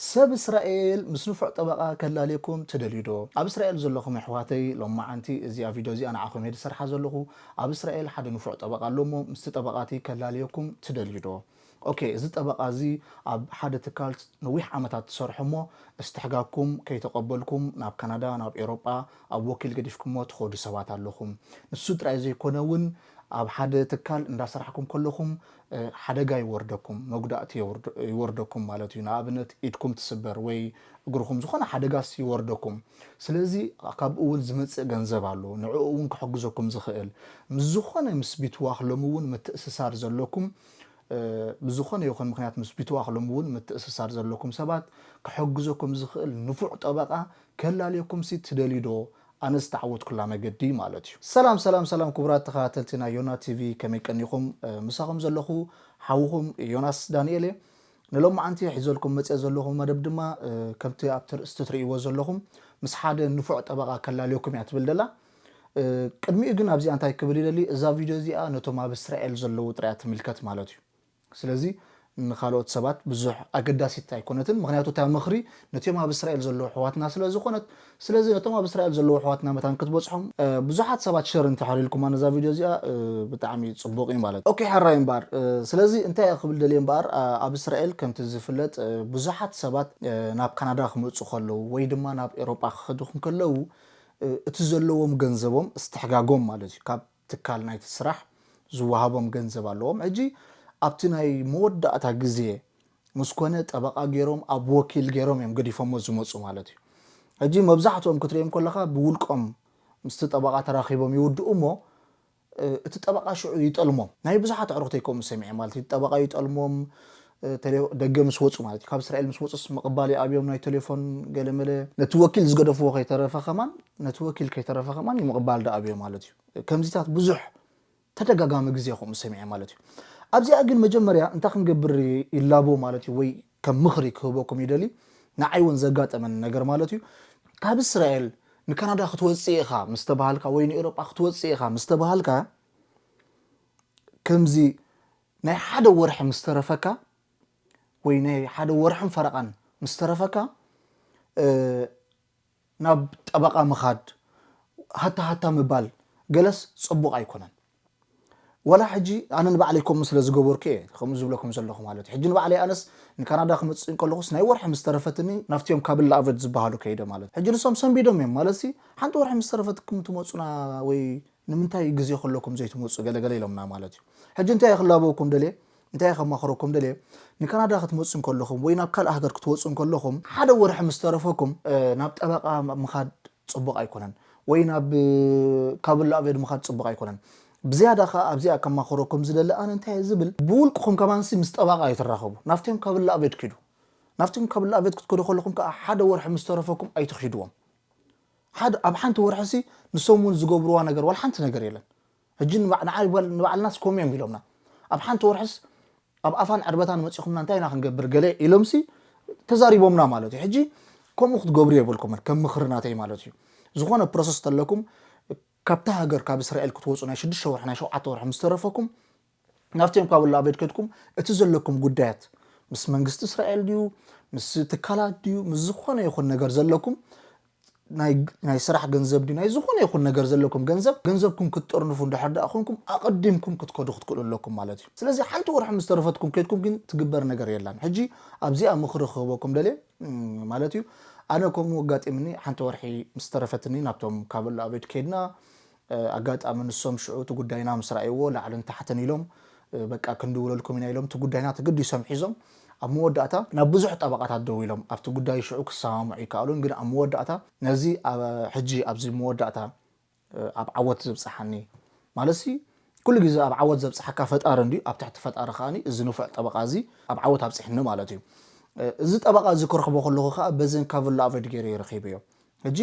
ሰብ እስራኤል ምስ ንፉዕ ጠበቓ ከላልየኩም ትደልዩ ዶ? ኣብ እስራኤል ዘለኹም የሕዋተይ ሎማዓንቲ እዚኣ ቪድዮ እዚኣ ንዓኹም እየ ዝሰርሓ ዘለኹ ኣብ እስራኤል ሓደ ንፉዕ ጠበቓ ኣሎ እሞ ምስቲ ጠበቓ እቲ ከላልየኩም ትደልዩ ዶ? ኦኬ እዚ ጠበቓ እዚ ኣብ ሓደ ትካል ነዊሕ ዓመታት ትሰርሑ እሞ እስትሕጋግኩም ከይተቐበልኩም ናብ ካናዳ ናብ ኤሮጳ ኣብ ወኪል ገዲፍኩሞ ትኸዱ ሰባት ኣለኹም ንሱ ጥራይ ዘይኮነ ውን ኣብ ሓደ ትካል እንዳሰራሕኩም ከለኹም ሓደጋ ይወርደኩም፣ መጉዳእቲ ይወርደኩም ማለት እዩ። ንኣብነት ኢድኩም ትስበር ወይ እግርኹም ዝኾነ ሓደጋስ ይወርደኩም። ስለዚ ካብኡ እውን ዝመፅእ ገንዘብ ኣሎ፣ ንዕኡ እውን ክሕግዘኩም ዝኽእል። ምስ ዝኾነ ምስ ቢትዋኽ ሎሚ እውን ምትእስሳር ዘለኩም ብዝኾነ ይኹን ምኽንያት ምስ ቢትዋኽ ሎሚ እውን ምትእስሳር ዘለኩም ሰባት ክሕግዘኩም ዝኽእል ንፉዕ ጠበቓ ከላልየኩምሲ ትደልዩ ዶ? ኣነ ዝተዓወትኩላ መገዲ ማለት እዩ። ሰላም ሰላም ሰላም ኩቡራት ተከታተልቲ ናይ ዮና ቲቪ ከመይ ቀኒኹም ምሳኹም ዘለኹ ሓውኹም ዮናስ ዳኒኤል እየ ንሎማዓንቲ ሒዘልኩም መጼ ዘለኹ መደብ ድማ ከምቲ ኣብቲ ርእስቲ ትርእይዎ ዘለኹም ምስ ሓደ ንፉዕ ጠበቓ ከላልየኩም እያ ትብል ደላ ቅድሚኡ ግን ኣብዚኣ እንታይ ክብል ይደሊ እዛ ቪድዮ እዚኣ ነቶም ኣብ እስራኤል ዘለዉ ጥራይ እያ ትምልከት ማለት እዩ ስለዚ ንኻልኦት ሰባት ብዙሕ ኣገዳሲት ኣይኮነትን፣ ምኽንያቱ እታ ምኽሪ ነቲኦም ኣብ እስራኤል ዘለዉ ኣሕዋትና ስለ ዝኾነት፣ ስለዚ ነቶም ኣብ እስራኤል ዘለዉ ኣሕዋትና መታን ክትበጽሖም። ብዙሓት ሰባት ሸር እንተሕር ኢልኩማ ነዛ ቪድዮ እዚኣ ብጣዕሚ ጽቡቅ እዩ ማለት። ኦኬ ሕራይ እምበኣር ስለዚ እንታይ እየ ክብል ደልየ እምበኣር ኣብ እስራኤል ከምቲ ዝፍለጥ ብዙሓት ሰባት ናብ ካናዳ ክመጹ ከለዉ ወይ ድማ ናብ ኤሮጳ ክኸዱ እንከለዉ እቲ ዘለዎም ገንዘቦም እስትሕጋጎም ማለት እዩ ካብ ትካል ናይቲ ስራሕ ዝወሃቦም ገንዘብ ኣለዎም ሕጂ ኣብቲ ናይ መወዳእታ ግዜ ምስ ኮነ ጠበቃ ጌሮም ኣብ ወኪል ጌሮም እዮም ገዲፎሞ ዝመጹ ማለት እዩ ሕጂ መብዛሕትኦም ክትርእዮም ከለካ ብውልቆም ምስቲ ጠበቃ ተራኪቦም ይውድኡ እሞ እቲ ጠበቃ ሽዑ ይጠልሞም ናይ ብዙሓት ኣዕሩክተይ ከምኡ ሰሚዐ ማለት እዩ እቲ ጠበቃ ይጠልሞም ደገ ምስ ወጹ ማለት እዩ ካብ እስራኤል ምስ ወጹስ ምቕባል ይኣብዮም ናይ ቴሌፎን ገለመለ ነቲ ወኪል ዝገደፍዎ ከይተረፈ ከማን ነቲ ወኪል ከይተረፈ ከማን ይምቕባል ዳኣብዮ ማለት እዩ ከምዚታት ብዙሕ ተደጋጋሚ ግዜ ከምኡ ሰሚዐ ማለት እዩ ኣብዚኣ ግን መጀመርያ እንታይ ክንገብር ይላቦ ማለት እዩ ወይ ከም ምኽሪ ክህበኩም ይደሊ ንዓይ እውን ዘጋጠመኒ ነገር ማለት እዩ ካብ እስራኤል ንካናዳ ክትወፅእ ኢኻ ምስ ተባሃልካ ወይ ንኤሮጳ ክትወፅእ ኢኻ ምስ ተባሃልካ ከምዚ ናይ ሓደ ወርሒ ምስ ተረፈካ ወይ ናይ ሓደ ወርሕን ፈረቓን ምስ ተረፈካ ናብ ጠበቓ ምኻድ ሃታ ሃታ ምባል ገለስ ጽቡቕ ኣይኮነን። ዋላ ሕጂ ኣነ ንባዕለይ ከምኡ ስለ ዝገበርኩ እየ ከምኡ ዝብለኩም ዘለኹ ማለት እዩ። ሕጂ ንባዕለይ ኣነስ ንካናዳ ክመጽእ እንከለኹስ ናይ ወርሒ ምስ ተረፈትኒ ናብቲኦም ካብላ ኣቨት ዝበሃሉ ከይደ ማለት እዩ። ሕጂ ንሶም ሰንቢዶም እዮም ማለትሲ ሓንቲ ወርሒ ምስ ተረፈትኩም ትመጹና ወይ ንምንታይ ግዜ ከለኩም ዘይትመጹ ገለ ገለ ኢሎምና ማለት እዩ ሕጂ እንታይ ክላበወኩም ደልየ እንታይ ከማኽረኩም ደልየ ንካናዳ ክትመጹ እንከለኹም ወይ ናብ ካልእ ሃገር ክትወጹ እንከለኹም ሓደ ወርሒ ምስ ተረፈኩም ናብ ጠበቓ ምኻድ ጽቡቕ ኣይኮነን ወይ ናብ ካብ ላእቬድ ምኻድ ጽቡቕ ኣይኮነን ብዝያዳ ከኣ ኣብዚኣ ከማኽረኩም ዝደሊ ኣነ እንታይ ዝብል ብውልቅኹም ከማንሲ ምስ ጠበቓ ኣይትራኸቡ ናብቶም ካብ ላእቬድ ኪዱ ናብቶም ካብ ላእቬድ ክትከዱ ከለኹም ከኣ ሓደ ወርሒ ምስ ተረፈኩም ኣይትኺድዎም ሓደ ኣብ ሓንቲ ወርሒሲ ንሶም ውን ዝገብርዋ ነገር ዋላ ሓንቲ ነገር የለን ሕጂ ንዓይ ንባዕልናስ ከምኡ እዮም ኢሎምና ኣብ ሓንቲ ወርሕስ ኣብ ኣፋን ዕርበታን መጺኹምና እንታይ ኢና ክንገብር ገለ ኢሎምሲ ተዛሪቦምና ማለት እዩ ሕጂ ከምኡ ክትገብሩ የብልኩምን ከም ምኽሪ ናተይ ማለት እዩ ዝኾነ ፕሮሰስ ተለኩም ካብታ ሃገር ካብ እስራኤል ክትወጹ ናይ ሽዱሽተ ወርሒ ናይ ሸውዓተ ወርሒ ምስ ተረፈኩም ናብቶም ካብ ላበድ ከድኩም እቲ ዘለኩም ጉዳያት ምስ መንግስቲ እስራኤል ድዩ ምስ ትካላት ድዩ ምስ ዝኾነ ይኹን ነገር ዘለኩም ናይ ስራሕ ገንዘብ ድዩ ናይ ዝኾነ ይኹን ነገር ዘለኩም ገንዘብ ገንዘብኩም ክትጥርንፉ እንድሕር ደኣ ኮንኩም ኣቐዲምኩም ክትከዱ ክትክእሉ ኣለኩም ማለት እዩ ስለዚ ሓንቲ ወርሒ ምስ ተረፈትኩም ከድኩም ግን ትግበር ነገር የላን ሕጂ ኣብዚኣ ምኽሪ ክህበኩም ደልየ ማለት እዩ ኣነ ከምኡ ኣጋጢምኒ ሓንቲ ወርሒ ምስ ተረፈትኒ ናብቶም ካበሎ ኣበድ ከድና ኣጋጣሚ ንሶም ሽዑ እቲ ጉዳይና ምስ ረኣይዎ ላዕልን ታሕትን ኢሎም በቃ ክንድውለልኩም ኢና ኢሎም እቲ ጉዳይና ተገዲሶም ሒዞም ኣብ መወዳእታ ናብ ብዙሕ ጠበቓታት ደዊሎም ኣብቲ ጉዳይ ሽዑ ክሰማምዑ ኣይከኣሉን ግን ኣብ መወዳእታ ነዚ ሕጂ ኣብዚ መወዳእታ ኣብ ዓወት ዘብጽሓኒ ማለትሲ ኩሉ ግዜ ኣብ ዓወት ዘብጽሓካ ፈጣሪ እንድዩ ኣብ ትሕቲ ፈጣሪ ከኣ እዚ ንፉዕ ጠበቓ እዚ ኣብ ዓወት ኣብጽሕኒ ማለት እዩ እዚ ጠበቓ እዚ ክረኽቦ ከለኹ ከኣ በዘን ካቭላቨድ ገይረ ረኺበዮ ሕጂ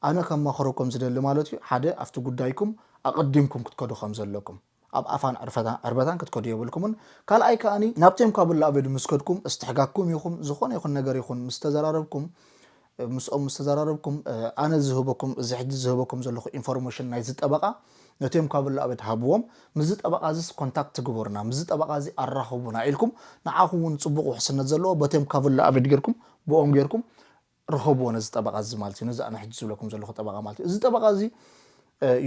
ኣነ ከማኽረኩም ዝደሊ ማለት እዩ ሓደ ኣብቲ ጉዳይኩም ኣቐዲምኩም ክትከዱ ከም ዘለኩም ኣብ ኣፋን ዕርበታን ክትከዱ የብልኩምን ካልኣይ ከኣ ናብቲ እንኳብላ ኣቤዱ ምስ ከድኩም እስትሕጋግኩም ይኹም ዝኾነ ይኹን ነገር ይኹን ምስ ተዘራረብኩም ምስኦም ምስ ተዘራረብኩም ኣነ ዝህበኩም እዚ ሕጂ ዝህበኩም ዘለኹ ኢንፎርሜሽን ናይዚ ጠበቓ ነቲ እንኳብላ ኣቤድ ሃብዎም ምስዚ ጠበቓ እዚስ ኮንታክት ግበሩና ምስዚ ጠበቓ እዚ ኣራኽቡና ኢልኩም ንዓኹም እውን ጽቡቕ ውሕስነት ዘለዎ በቲ እንኳብላ ኣቤድ ጌርኩም ብኦም ጌርኩም ርኸብዎ ነዚ ጠበቓ እዚ ማለት እዩ ነዚ ኣነ ሕጂ ዝብለኩም ዘለኹ ጠበቓ ማለት እዩ እዚ ጠበቓ እዚ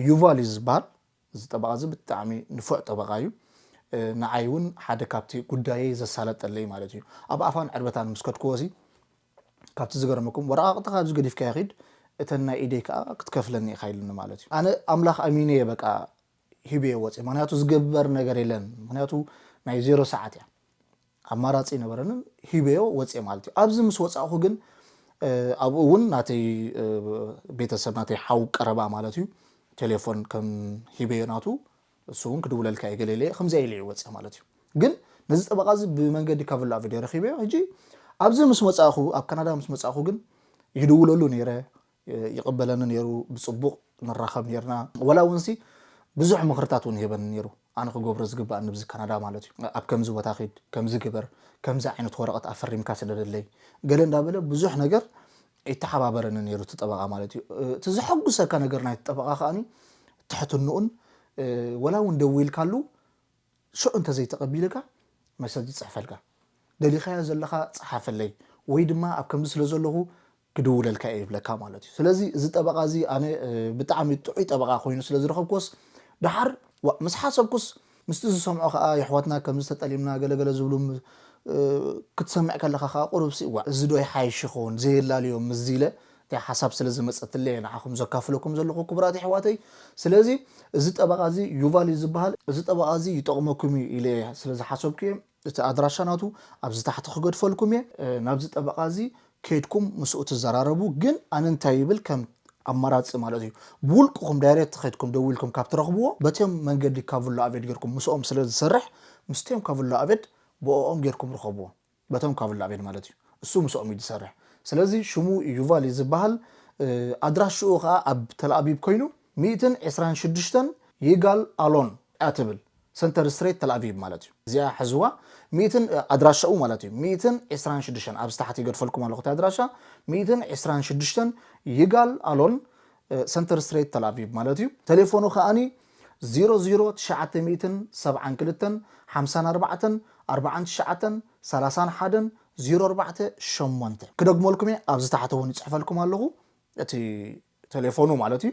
ዩቫል እዩ ዝበሃል እዚ ጠበቓ እዚ ብጣዕሚ ንፉዕ ጠበቓ እዩ ንዓይ እውን ሓደ ካብቲ ጉዳየይ ዘሳለጠለይ ማለት እዩ ኣብ ኣፋን ዕርበታን ምስ ከድክዎ እዚ ካብቲ ዝገረመኩም ወረቓቕጥኻ ኣብዚ ገዲፍካዮ ኺድ እተን ናይ ኢደይ ከዓ ክትከፍለኒ ኢኻ ኢሉኒ ማለት እዩ ኣነ ኣምላኽ ኣሚነ እየ በቃ ሂበዮ ወጼ ምክንያቱ ዝግበር ነገር የለን ምክንያቱ ናይ ዜሮ ሰዓት እያ ኣማራጺ ኣይነበረንን ሂበዮ ወጼ ማለት እዩ ኣብዚ ምስ ወጻእኹ ግን ኣብኡ እውን ናተይ ቤተሰብ ናተይ ሓው ቀረባ ማለት እዩ ቴሌፎን ከም ሂበዮ ናቱ እሱ እውን ክድውለልካ እዩ ገሌለ ከምዚያ ኢለ ወጸ ማለት እዩ ግን ነዚ ጠበቃ እዚ ብመንገዲ ካብ ላ ቪድዮ ረኪበዮ ሕጂ ኣብዚ ምስ መፃእኹ ኣብ ካናዳ ምስ መፃእኹ ግን ይድውለሉ ነይረ ይቕበለኒ ኔሩ ብጽቡቕ ንራኸብ ኔርና ወላ ውንሲ ብዙሕ ምኽርታት ውን ይህበኒ ኔሩ ኣነ ክገብሮ ዝግባኣኒ ብዚ ካናዳ ማለት ዩ ኣብ ከምዚ ቦታ ኪድ ከምዚ ግበር ከምዚ ዓይነት ወረቐት ኣፈሪምካ ስደደለይ ገለ እንዳበለ ብዙሕ ነገር ይተሓባበረኒ ኔሩ እቲ ጠበቓ ማለት ዩ እቲ ዘሐጉሰካ ነገር ናይቲ ጠበቓ ከኣ ትሕትንኡን ወላ ውን ደዊልካሉ ሽዑ እንተዘይተቐቢልካ መሰጅ ይጽሕፈልካ ደሊኻዮ ዘለኻ ጽሓፈለይ ወይ ድማ ኣብ ከምዚ ስለ ዘለኹ ክድውለልካ እየ ይብለካ ማለት እዩ ስለዚ እዚ ጠበቓ እዚ ኣነ ብጣዕሚ ጥዑይ ጠበቓ ኮይኑ ስለ ዝረኸብኩዎስ ደሓር ዋእ ምስ ሓሰብኩስ ምስቲ ዝሰምዖ ከኣ የሕዋትና ከምዚ ተጠሊምና ገለ ገለ ዝብሉ ክትሰምዕ ከለኻ ከኣ ቁሩብሲ ዋእ እዚ ዶ ይሓይሽ ይኸውን ዘየላልዮም ምስዚ ኢለ እቲኣ ሓሳብ ስለ ዝመጸትለይ እየ ንዓኹም ዘካፍለኩም ዘለኹ ክቡራት የሕዋተይ ስለዚ እዚ ጠበቓ እዚ ዩቫል እዩ ዝብሃል እዚ ጠበቓ እዚ ይጠቕመኩም እዩ ኢለ ስለ ዝሓሰብኩ እየ እቲ ኣድራሻ ናቱ ኣብዚ ታሕቲ ክገድፈልኩም እየ ናብዚ ጠበቓ እዚ ከይድኩም ምስኡ ትዘራረቡ ግን ኣነ እንታይ ይብል ከም ኣማራጺ ማለት እዩ ብውልቅኹም ዳይሬት ከይድኩም ደዊልኩም ካብ ትረኽብዎ በቲም መንገዲ ካቭላ ኣቬድ ጌርኩም ምስኦም ስለ ዝሰርሕ ምስቲም ካቭላ ኣቬድ ብኦኦም ጌርኩም ርኸብዎ በቶም ካቭላ ኣቬድ ማለት እዩ እሱ ምስኦም እዩ ዝሰርሕ ስለዚ ሽሙ ዩቫል እዩ ዝባሃል ኣድራሽኡ ከኣ ኣብ ተልኣቢብ ኮይኑ ሚእትን ዕስራን ሽዱሽተን ይጋል ኣሎን እያ ትብል ሰንተር ስትሬት ተልኣቪቭ ማለት እዩ እዚኣ ሕዝዋ ሚእትን ኣድራሻኡ ማለት እዩ ሚእትን ዕስራን ሽዱሽተን ኣብዚ ታሕቲ ይገድፈልኩም ኣለኹ እቲ ኣድራሻ ሚእትን ዕስራን ሽዱሽተን ይጋል ኣሎን ሰንተር ስትሬት ተልኣቪቭ ማለት እዩ ቴሌፎኑ ከኣኒ ዚሮ ዚሮ ትሽዓተ ሚእትን ሰብዓን ክልተን ሓምሳን ኣርባዕተን ኣርብዓን ትሽዓተን ሰላሳን ሓደን ዚሮ ኣርባዕተ ሸሞንተ ክደግመልኩም እየ ኣብዚ ታሕቲ እውን ይፅሕፈልኩም ኣለኹ እቲ ተሌፎኑ ማለት እዩ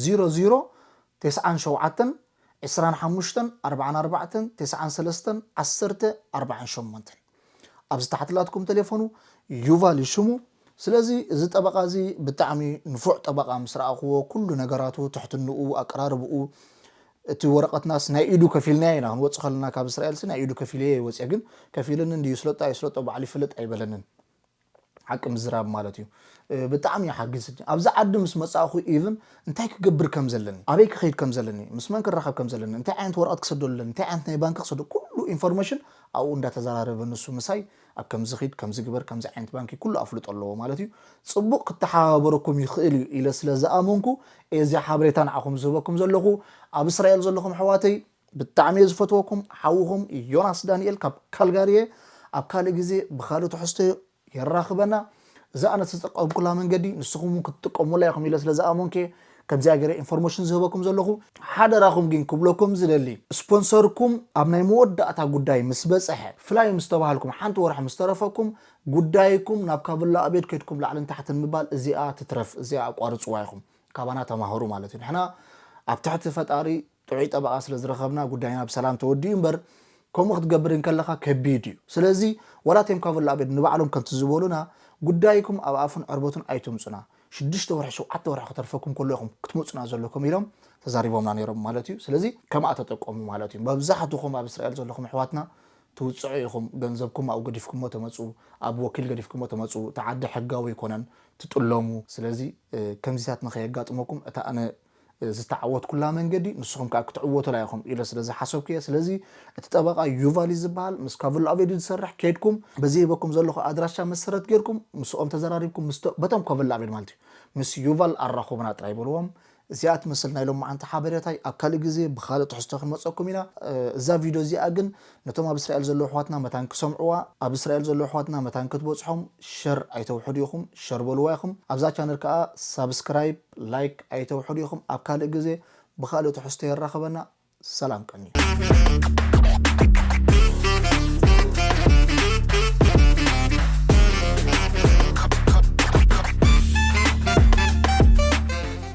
ዚሮ ዚሮ ቴስዓን ሸውዓተን ዕስራን ሓሙሽተን ኣርባዓን ኣርባዕተን ቴስዓን ሰለስተን ዓሰርተ ኣርባዓን ሸሞንተን ኣብዚ ታሕቲ ላትኩም ተሌፎኑ ዩቫል እዩ ሽሙ ስለዚ እዚ ጠበቃ እዚ ብጣዕሚ ንፉዕ ጠበቃ ምስ ረኣኽዎ ኩሉ ነገራቱ ትሕትንኡ ኣቀራርብኡ እቲ ወረቀትናስ ናይ ኢዱ ከፊልናዮ ኢና ክንወጽእ ከለና ካብ እስራኤልሲ ናይ ኢዱ ከፊለዮ ይወጽ ግን ከፊልኒ እንድዩ ይስለጦ ኣይስለጦ ባዕሉ ይፈልጥ ኣይበለንን ሓቂ ምዝራብ ማለት እዩ ብጣዕሚ ይሓግዝኒ ኣብዚ ዓዲ ምስ መጻእኹ ኢቭን እንታይ ክገብር ከም ዘለኒ ኣበይ ክኸይድ ከም ዘለኒ ምስ መን ክራኸብ ከም ዘለኒ እንታይ ዓይነት ወረቐት ክሰደሉ ኣለኒ እንታይ ዓይነት ናይ ባንኪ ክሰደ ኩሉ ኢንፎርሜሽን ኣብኡ እንዳተዘራረበ ንሱ ምሳይ ኣብ ከምዚ ኺድ ከምዚ ግበር ከምዚ ዓይነት ባንኪ ኩሉ ኣፍልጦ ኣለዎ ማለት እዩ ጽቡቕ ክተሓባበረኩም ይኽእል እዩ ኢለ ስለ ዝኣመንኩ እዚ ሓበሬታ ንዓኹም ዝህበኩም ዘለኹ ኣብ እስራኤል ዘለኹም ኣሕዋተይ ብጣዕሚ እየ ዝፈትወኩም ሓውኹም ዮናስ ዳኒኤል ካብ ካልጋሪ እየ ኣብ ካልእ ግዜ ብካልእ ትሕዝቶ የራኽበና እዛ ኣነ ዝተጠቀምኩላ መንገዲ ንስኹም እውን ክትጥቀሙላ ኢኹም ኢለ ስለ ዝኣመንኩ እየ ከምዚኣ ገይረ ኢንፎርሜሽን ዝህበኩም ዘለኹ ሓደራኹም ግን ክብለኩም ዝደሊ ስፖንሰርኩም ኣብ ናይ መወዳእታ ጉዳይ ምስ በጽሐ ፍላይ ምስ ተባሃልኩም ሓንቲ ወርሒ ምስ ተረፈኩም ጉዳይኩም ናብ ካቭላ ኣቤድ ከድኩም ላዕልን ታሕትን ምባል እዚኣ ትትረፍ እዚኣ ኣቋርጽዋ ኢኹም ካባና ተማሃሩ ማለት እዩ ንሕና ኣብ ትሕቲ ፈጣሪ ጥዑይ ጠበቓ ስለ ዝረኸብና ጉዳይና ብሰላም ተወዲኡ እምበር ከምኡ ክትገብር እንከለኻ ከቢድ እዩ ስለዚ ወላ እቴም ካቮላቤድ ንባዕሎም ከምቲ ዝበሉና ጉዳይኩም ኣብ ኣፉን ዕርበቱን ኣይተምጹና ሽዱሽተ ወርሒ ሸውዓተ ወርሒ ክተርፈኩም ከሎ ኢኹም ክትመጹና ዘለኩም ኢሎም ተዛሪቦምና ነይሮም ማለት እዩ ስለዚ ከምኣ ተጠቀሙ ማለት እዩ መብዛሕትኹም ኣብ እስራኤል ዘለኹም ኣሕዋትና ትውጽዑ ኢኹም ገንዘብኩም ኣብኡ ገዲፍኩሞ ተመጹ ኣብ ወኪል ገዲፍኩሞ ተመጹ እቲ ዓዲ ሕጋዊ ኣይኮነን ትጥለሙ ስለዚ ከምዚታት ንኸየጋጥመኩም እታ ኣነ ዝተዓወትኩላ መንገዲ ንስኹም ከኣ ክትዕወቱላ ኢኹም ኢለ ስለ ዝሓሰብኩ እየ ስለዚ እቲ ጠበቓ ዩቫል እዩ ዝበሃል ምስ ካቭሎ ኣቬዲ ዝሰርሕ ከድኩም በዚ ሂበኩም ዘለኹ ኣድራሻ መሰረት ጌርኩም ምስኦም ተዘራሪብኩም ምስ በቶም ካቭሎ ኣቬዲ ማለት እዩ ምስ ዩቫል ኣራኹቡና ጥራይ በልዎም እዚኣ ትመስል ናይ ሎማዓንቲ ሓበሬታይ ኣብ ካልእ ግዜ ብኻልእ ትሕዝቶ ክንመጸኩም ኢና እዛ ቪድዮ እዚኣ ግን ነቶም ኣብ እስራኤል ዘለዉ ኣሕዋትና መታን ክሰምዕዋ ኣብ እስራኤል ዘለዉ ኣሕዋትና መታን ክትበጽሖም ሸር ኣይተውሕዱ ኢኹም ሸር በልዋ ኢኹም ኣብዛ ቻነል ከኣ ሳብስክራይብ ላይክ ኣይተውሕዱ ኢኹም ኣብ ካልእ ግዜ ብኻልእ ትሕዝቶ የራኽበና ሰላም ቀንዩ።